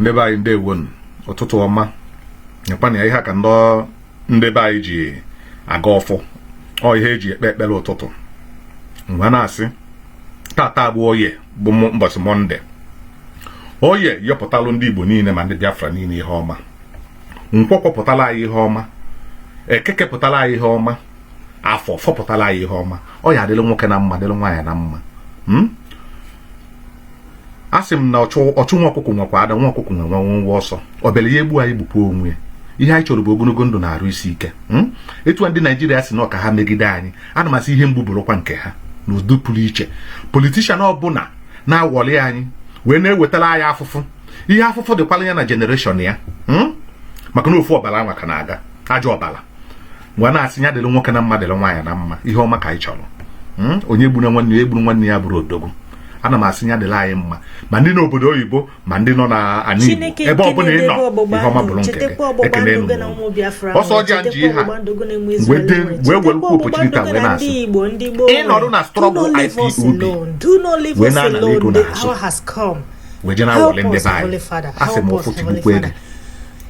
ndị be anyị ndewonu ụtụtụ ọma nyekwana ya ihe ka ndị ndị be anyị ji agọ ọfọ ọ ihe eji ekpe ekpere ụtụtụ m wee na-asị taata bụ oye bụ ụbọchị mọnde oye yọpụtalụ ndị igbo niile ma ndị biafra niile ihe ọma nkwọ kwọpụtala anyị ihe ọma eke kepụtala anyị ihe ọma afọ fọpụtala anyị ihe ọma ọ ya adịrị nwoke na mma dịrị nwaanyị na mma hmm? a sị m na ọchụ ọchụ nwa ọkụkụ nwekwa ada nwa ọkụkụ nwe nwenwe ọsọ ọbịara ya egbu anyị gbukwa onwe ya ihe anyị chọrọ bụ ogologo ndụ na arụ isi ike Hmm? etu a ndị naijiria sị na ọ ka ha megide anyị ana m asị ihe mgbu bụrụkwa nke ha n'udo pụrụ iche politishan ọbụla na-awọli anyị wee na-ewetara anyị afụfụ ihe afụfụ dịkwara ya na jenereshọn ya Hmm? maka na ofu ọbara anwa ka na-aga ajọ ọbara m wee na-asị ya dịrị nwoke na mma dịrị nwaanyị na mma ihe ọma ka anyị chọrọ hmm? onye gburu nwanne ya egburu nwanne ya abụrọ odogwu ana m asị ya dịrị anyị mma ma ndị nọ obodo oyibo ma ndị nọ n'anị Igbo ebe ọ bụla ị nọ ihe ọma bụrụ nke gị ekene enu ọsọ ọjị a ji ha wee were ukwu opportunity wee na-asị ịnọrụ na strọgụl IPOB wee na-anara ego n'azụ wee je na-awọle ndị be anyị asị m ọfọ tigbukwa gị o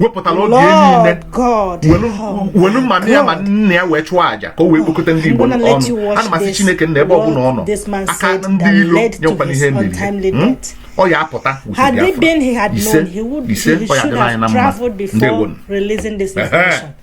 wepụtara oge niile welu ma nna ya ma nne ya wee chụọ aja ka o wee kpokọta ndị Igbo ọnụ ana m asị Chineke na ebe ọ bụla ọ nọ aka ndị ilo nyekwana ihe mmiri hmm? ọ ya apụta ise ise ọ ya dịla anyị na mma ndị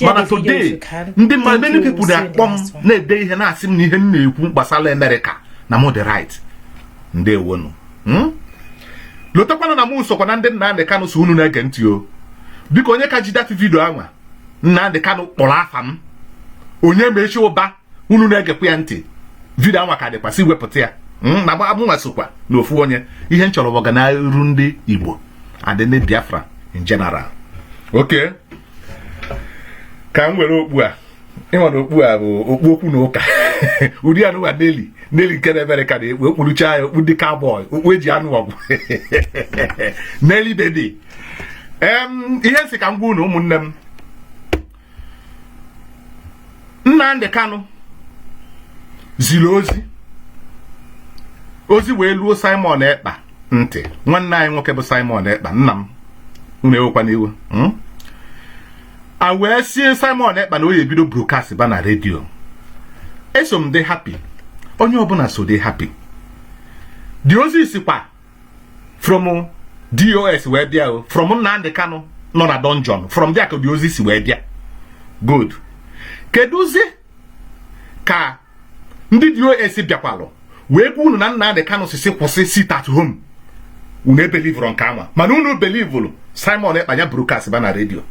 mana today ndị mmadụ many people na-akpọ m na-ede ihe na-asị m na ihe m na-ekwu gbasara Amerịka na m dị right ndewonu hmm? lotakwana na m sokwa na ndị Nnamdị Kanụ sị unu na-ege ntị o biko onye ka ji dati vidio anwa Nnamdị Kanụ kpọrọ afa m onye ma echi ụba unu na-egekwa ya ntị vidio anwa ka dịkwa si wepụta ya hmm, na mụnwa sokwa na ofu onye ihe m chọrọ bụ ọganiru ndị Igbo and ndị Biafra in general oke ka m were okpu a ị ma na okpu a bụ okpu okwu na ụka ụdị anụwa neli neli nke na-emere ka na-ekpu okpurucha ya okpu ndị cowboy okpu eji anụ ọgụ neli bebi ihe m sị ka m gwa unu ụmụnne m Nnamdi Kanu ziri ozi ozi wee luo Simon Ekpa ntị nwanne anyị nwoke bụ Simon Ekpa nna m unu ewekwana iwe hmm? a wee sie Simon Ekpa na ọ ya ebido brokast ba na redio eso m dị hapi onye ọbụla so dị hapi dị ozi sikwa from DOS wee bịa o from Nnamdi Kanu nọ na dungeon from there ka ụdị ozi si wee bịa good kedụzi ka ndị DOS bịakwalụ wee gwa unu na Nnamdi Kanu sị sị kwụsị sit at home unu ebelivurọ nke anwa mana unu belivulu Simon Ekpa nya broadcast ba na redio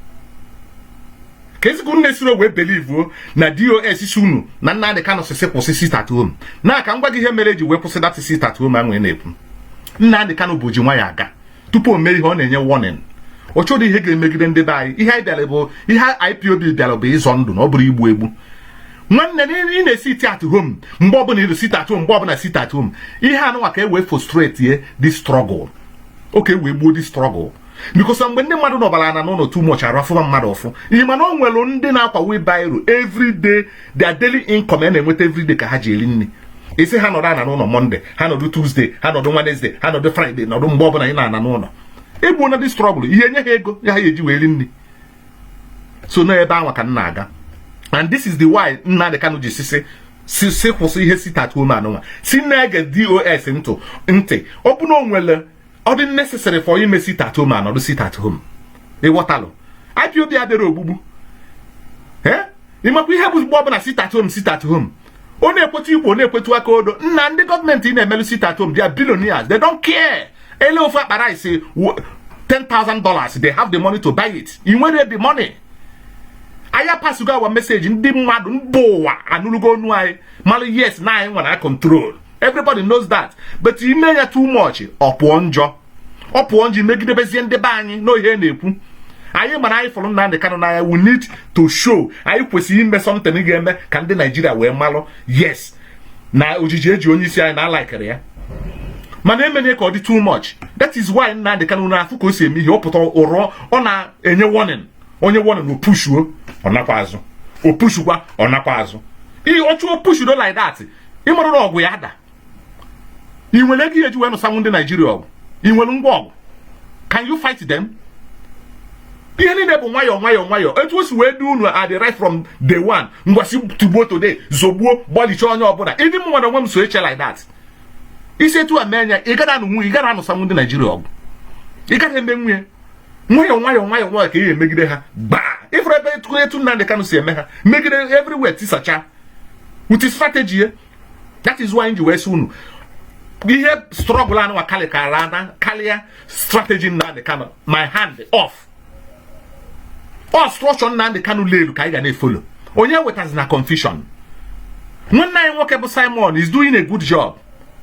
kezi unu sirọ wee belivuo na DOS sị unu na Nnamdi Kanu sị sị kwụsị sit at home na ka m gwa gị ihe mere eji wee kwụsị that sit at home anwa na-ekwu Nnamdi Kanu bụ ji nwayọ aga tupu o mee ihe ọ na-enye warning ọ chọrọ ihe ga-emegide ndị be anyị ihe anyị bịara bụ ihe IPOB bịara bụ ịzọ ndụ na ọ bụrọ igbu egbu nwanne ị na-asị sit at home mgbe ọbụla ịrụ sit at home mgbe ọbụla sit at home ihe anụnwa ka e wee frustrate ye the struggle ka e wee gbuo the struggle because mgbe ndị mmadụ nọbara ana n'ụlọ too much arụ afụba mmadụ ụfụ ị ma na o nwere ndị na-akwa wheelbarrow everyday their daily income a na-enweta everyday ka ha ji eri nri ị sị ha nọdụ ana n'ụlọ mọnde ha nọdụ tuzde ha nọdụ wenezde ha nọdụ fraịde nọdụ mgbe ọbụla ị nọ ana n'ụlọ ọ bụ na the struggle ya-enye ha ego ya ha eji wee ri nri so na ebe anwa ka m na-aga and this is the why Nnamdi Kanu ji sị sị sị kwụsị ihe sit at home anụnwa sị na-ege DOS ntị ntị ọ bụna o nwere ọ dị necessary for ime sit at home anọdụ sit at home ịghọtalụ IPOB abịarọ ogbugbu ee ị mekwa ihe bụ mgbe ọbụla sit at home sit at home ọ na-ekwetu igbo na-ekwetu aka odo nna ndị gọọmenti ị na-emelụ sit at home they are billionaires they don't care e lee ofu akpa rice 10,000 dollars they have the money to buy it ị nwere the money anyị apassugo our message ndị mmadụ mba ụwa anụrụgo onu anyị mara yes na anyị nwere control everybody knows that but ime ya too much ọ pụọ njọ ọ pụọ njọ ị megidebezie ndị be anyị n'ihe na-ekwu anyị mara anyị fụrụ Nnamdi Kanu n'anya we need to show anyị kwesịrị ime something ga-eme ka ndị Naijiria wee malụ yes na ojiji eji onye isi anyị na alikerọ ya mana emena ya ka ọ dị too much that is why Nnamdi Kanu na-afụ ka o si eme ihe ọ pụta ụrọ ọ na-enye warning o nye warning o pushuo ọ nakwa azụ o pushukwa ọ nakwa azụ ihe ọ chụọ pushudo like that ị mara na ọgụ ya daa ị nwere ego ị ya-eji wee nụsanwụ ndị Naijiria ọgụ ị nwere ngwa ọgụ can you fight them ihe niile bụ nwayọọ nwayọọ nwayọọ etu o si wee dị unu adị right from day one ngwa sị tigbuo today zọgbuo gbalichaa onye ọbụla ịdị mụ nwa onwe m so eche like that ị si etu a mee nya ị gaghị anụnwu nya ị gaghị anụsanwụ ndị Naijiria ọgụ ị gaghị emenwu nya nwayọọ nwayọọ nwayọọ nwayọọ ka ị emegide ha gbaa ị fụrụ ebe etu etu Nnamdi Kanu si eme ha megide everywhere tisacha with strategy ya that is why m ji wee sị unu ihe struggle anụnwa karịkara na karịa strategy Nnamdi Kanu my hand off ọ structure Nnamdi Kanu lelu ka anyị ga na-efolo onye wetazina confusion nwanne anyị nwoke bụ Simon is doing a good job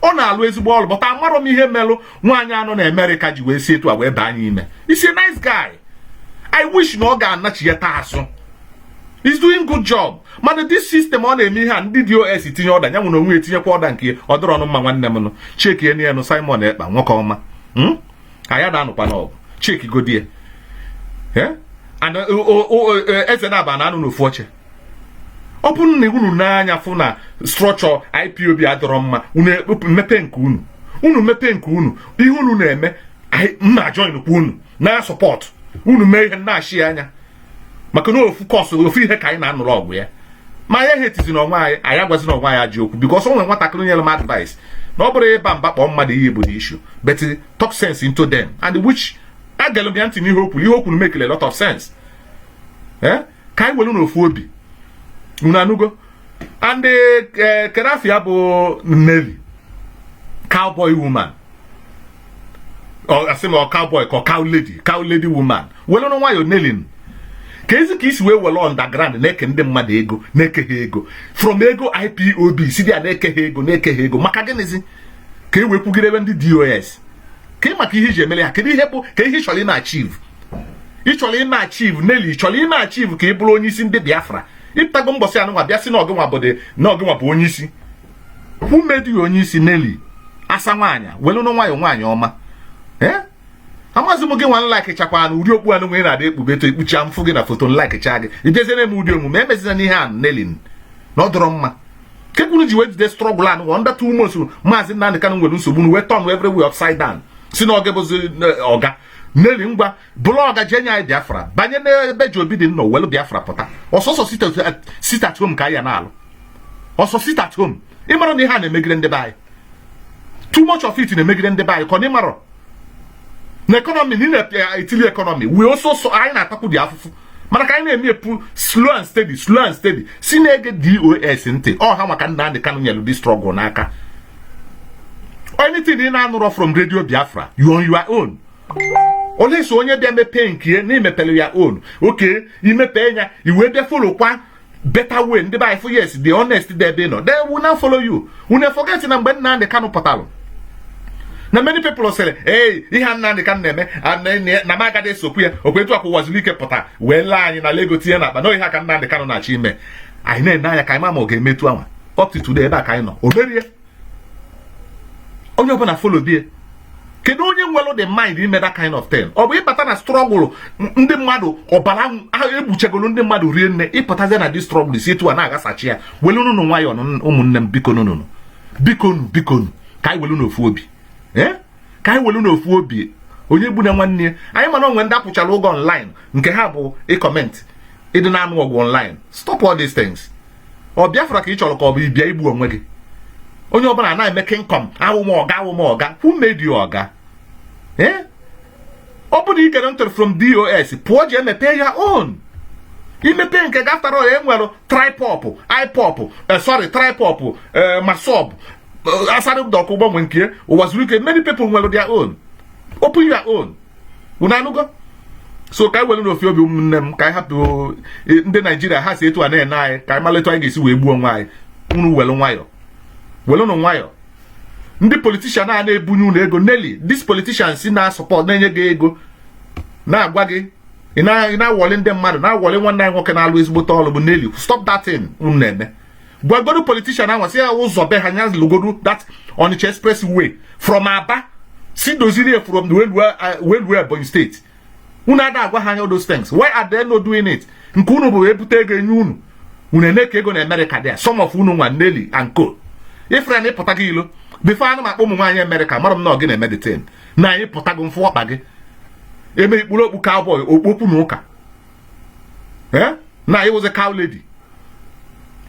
ọ na-alụ ezigbo ọlụ but amarọ m ihe melụ nwaanyị a nọ na Amerịka ji wee si etu a wee baa anyị ime he's a nice guy I wish na ọ ga-anachi ya taa asụ he's doing good job mana this system ọ na-eme ihe a ndị DOS tinye order ya nwa onwe etinyekwa order nke ọ dịrọ nụ mma nwanne m nụ checkie nụ Simon Ekpa nwoke ọma hmm? ka anyị na-anụkwanụ ọgụ checkiegodi eh? and eze naabọ ana-anọ n'ofu oche ọ bụrụ na unu na ya fụ na structure IPOB adịrọ mma unu e, mepee nke unu unu mepee nke unu ihe unu na-eme m ajoinkwa unu na-support unu mee ihe na-achị anya maka na ofu cause ofu ihe ka anyị na-anụrụ ọgụ ya ma anyị ehatezina onwe anyị anyị agwazina onwe anyị ajọ okwu because o nwere nwatakịrị nyere m advice na ọ bụrọ ịba mba ịkpọ mmadụ iyi bụ the issue but talk sense into them and which egelu m ya ntị n'ihe o kwulu ihe o kwulu makelụ a lot of sense eh? ka anyị were n'ofu obi unu anụgo and eh, kedu afa ya bụ Nelly cowboy woman asị m ọ cowboy ka ọ cow lady cow lady woman welụnụ nwayọ Nelly kezi ka i si wee welụ underground na-eke ndị mmadụ ego na-eke ha ego from ego IPOB si dị ya na-eke ha ego na-eke ha ego maka gịnịzi ka i wee kwugidebe ndị DOS ka ị maka ihe i ji emere ha kedu ihe bụ ka ihe ị chọrọ ime achieve ị chọrọ ime achieve Nelly ị chọrọ ime achieve ka ị bụrụ onye isi ndị Biafra ị pụtago mbọsị anụnwa bịa sị na ọ gịnwa bụ na ọ gịnwa bụ onye isi who made you onye isi Nelly asa nwaanyị welụnụ nwayọ nwaanyị ọma ee eh? amazi m gịnwa m likechakwanụ ụdị okpu anụnwa ị na-adị ekpube etu i kpucha m fụ gị na foto m likecha gị i jezie eme ụdị omume emezina ihe a Nelly na ọ dịrọ mma kee ka unu ji wee jide struggle anụnwa na that time osu Maazị Nnamdi Kanu nwere nsogbu wee turn everywhere upside down sị na ọ gị bụzi eh, ọga Nelly ngwa blogger je-enye Biafra banye n'ebe ji obi dị nna owelu Biafra pụta ọ sọọsọ sit at home ka anyị na-alụ ọ sọ sit at home ị mara na ihe a na-emegide ndị be anyị too much of it na-emegide ndị be anyị ka ọ na ị marọ na economy anyị na-etili eh, economy wee ọ sọọsọ anyị na-atakwudị afụfụ mana ka anyị na-eme epu slow and steady slow and steady sị na-ege DOS ntị ọ ha ka Nnamdị Kanụ nyelụ the struggle n'aka anything ị na-anụrọ from Radio Biafra you're on your own or else onye bịa mepee nke ya na i mepere ya on okay i mepee ya i wee bịa followkwa better way ndị be anyị fụ yes the honest dị ebe ị nọ they will now follow you do not forget na mgbe Nnamdị Kanụ pụtalụ na many people sịrị ee ihe a Nnamdị Kanụ na-eme a- na- na- na m agaghị esokwu ya ọkwa etu a ka Ụwazuruike pụta wee lee anyị nalụ ego tinye n'akpa na ọ ihe a ka Nnamdị Kanụ na-achọ ime anyị na-ene anya ka anyị ma ma ọ ga-eme etu anwa up to today ebe a ka anyị nọ o merọ ya onye ọbụla folo die kedu onye nwelụ the mind ime that kind of thing ọ bụ ịbata na struggle ndị mmadụ ọbara egbuchegolu ndị mmadụ rie nne ịpụtazie na this struggle si etu a na-aghasacha ya welụnụnụ nwayọọ ụmụnne m biko nụnụnụ biko nụ biko nụ ka anyị welu n'ofu obi eh? ka anyị welu n'ofu obi onye egbuna nwanne ya anyị ma na o nwe ndị a kwụchara ụgwọ online nke ha bụ ị-comment ịdị na-anụ ọgụ online stop all these things ọ Biafra ka ị chọlụ ka ọ bụ ịbịa igbu onwe gị onye ọbụla na-eme King Kong awụ m ọga awụ m ọga who made you ọga eh? ọ bụrụ ikere ntụrụ from DOS pụọ je mepe your own i mepe nke gị after all e nwere TRIPOB IPOB eh, sorry TRIPOB eh, MASSOB Asari Dokubo nwe nke Uwazuruike many people nwere their own open your own unu anụgo so ka anyị were n'ofu obi ụmụnne m ka anyị hapụ e, ndị Nigeria ha si etu a na-ene anyị ka anyị malụ etu anyị ga-esi wee gbuo onwe anyị unu were nwayọ were nụ nwayọ ndị politician a na-ebunye unu ego Nelly these politicians na-support na-enye gị ego na-agwa gị ị na-worry ndị mmadụ na-worry nwanne anyị nwoke na-alụ ezigbote ọrụ bụ Nelly stop that thing unu na-eme gwagodu politician ahụ sị ya ụzọ be ha nya lụgodu that Onitsha express way from Aba si doziri ya from welu Ebonyi State unu ada agwa ha anya those things why are they not doing it nke unu bụ e bute ego e nye unu unu eme ka ego na America there some of unu nwa Nelly and co ifere na ịpụta gị ilo before anụ maka ụmụ nwaanyị America mara m na ọ gị na-eme the thing na anyị pụtago mfụ ọkpa gị eme i kpuru okpu cowboy okpokpu na ụka ee eh? na ị wụzi cow lady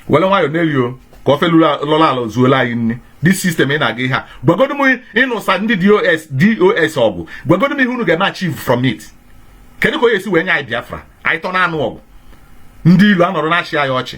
were nwayọ Nelly o ka ofe lọla ala zuola anyị nni this system ị na-aga ihe a gwagodu m ịnụsa ndị DOS DOS ọgụ gwagodu m ihe unu ga-eme achieve from it kedu ka onye esi wee nye anyị Biafra anyị tọ na-anụ ọgụ ndị ilo anọrọ na-achị anyị ọchị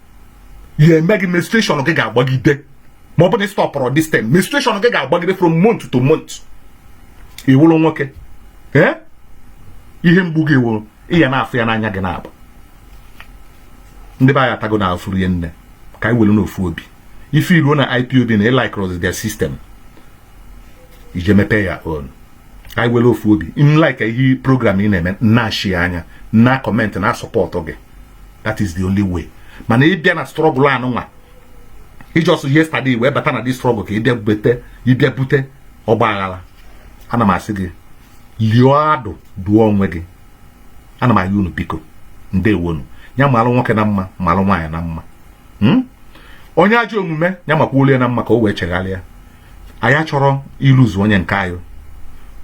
ya eme gị menstruation gị ga-agbagide ma ọ bụ na ị stopụrọ this thing menstruation gị ga-agbagide from month to month ị wụrụ nwoke ee ihe mgbu gị wụrụ ị ya na-afụ ya n'anya gị na-agba ndị be anyị atagonụ afụfụ rie nne ka anyị were n'ofu obi if i ruo na IPOB na ị likerọzi their system i je mepee your own ka anyị were ofu obi ndị like ihe program ị na-eme na-share ya na-comment na-support gị that is the only way mana ị bịa na struggle anụnwa ị just yesterday wee bata na this struggle ka ị bịa bute ị bịa bute ọgba aghala ana m asị gị lio ọdụ dụọ onwe gị ana m ayọ unu biko ndewonu ya malụ nwoke na mma malụ nwaanyị na mma hmm? onye ajọ omume ya makwuolu ya na mma ka o wee cheghalịa anyị achọrọ ili ozu onye nke anyị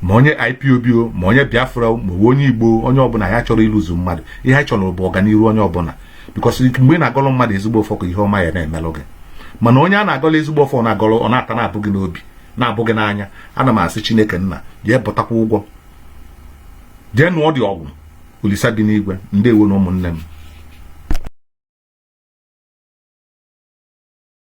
ma onye IPOB o ma onye Biafra ma onye Igbo onye ọbụla anyị achọrọ ili ozu mmadụ ihe anyị chọrọ bụ ọganihu onye ọbụla because mgbe ị na-agọrọ mmadụ ezigbo ọfọ ka ihe ọma ya na-emelụ gị mana onye a na-agọrọ ezigbo ọfọ ọ na-ata na-abụ gị n'obi na-abụ gị n'anya ana m asị Chineke nna jee bụtakwa ụgwọ jee nụọ odogwu Olisa bi n'igwe ndewo nụ ụmụnne m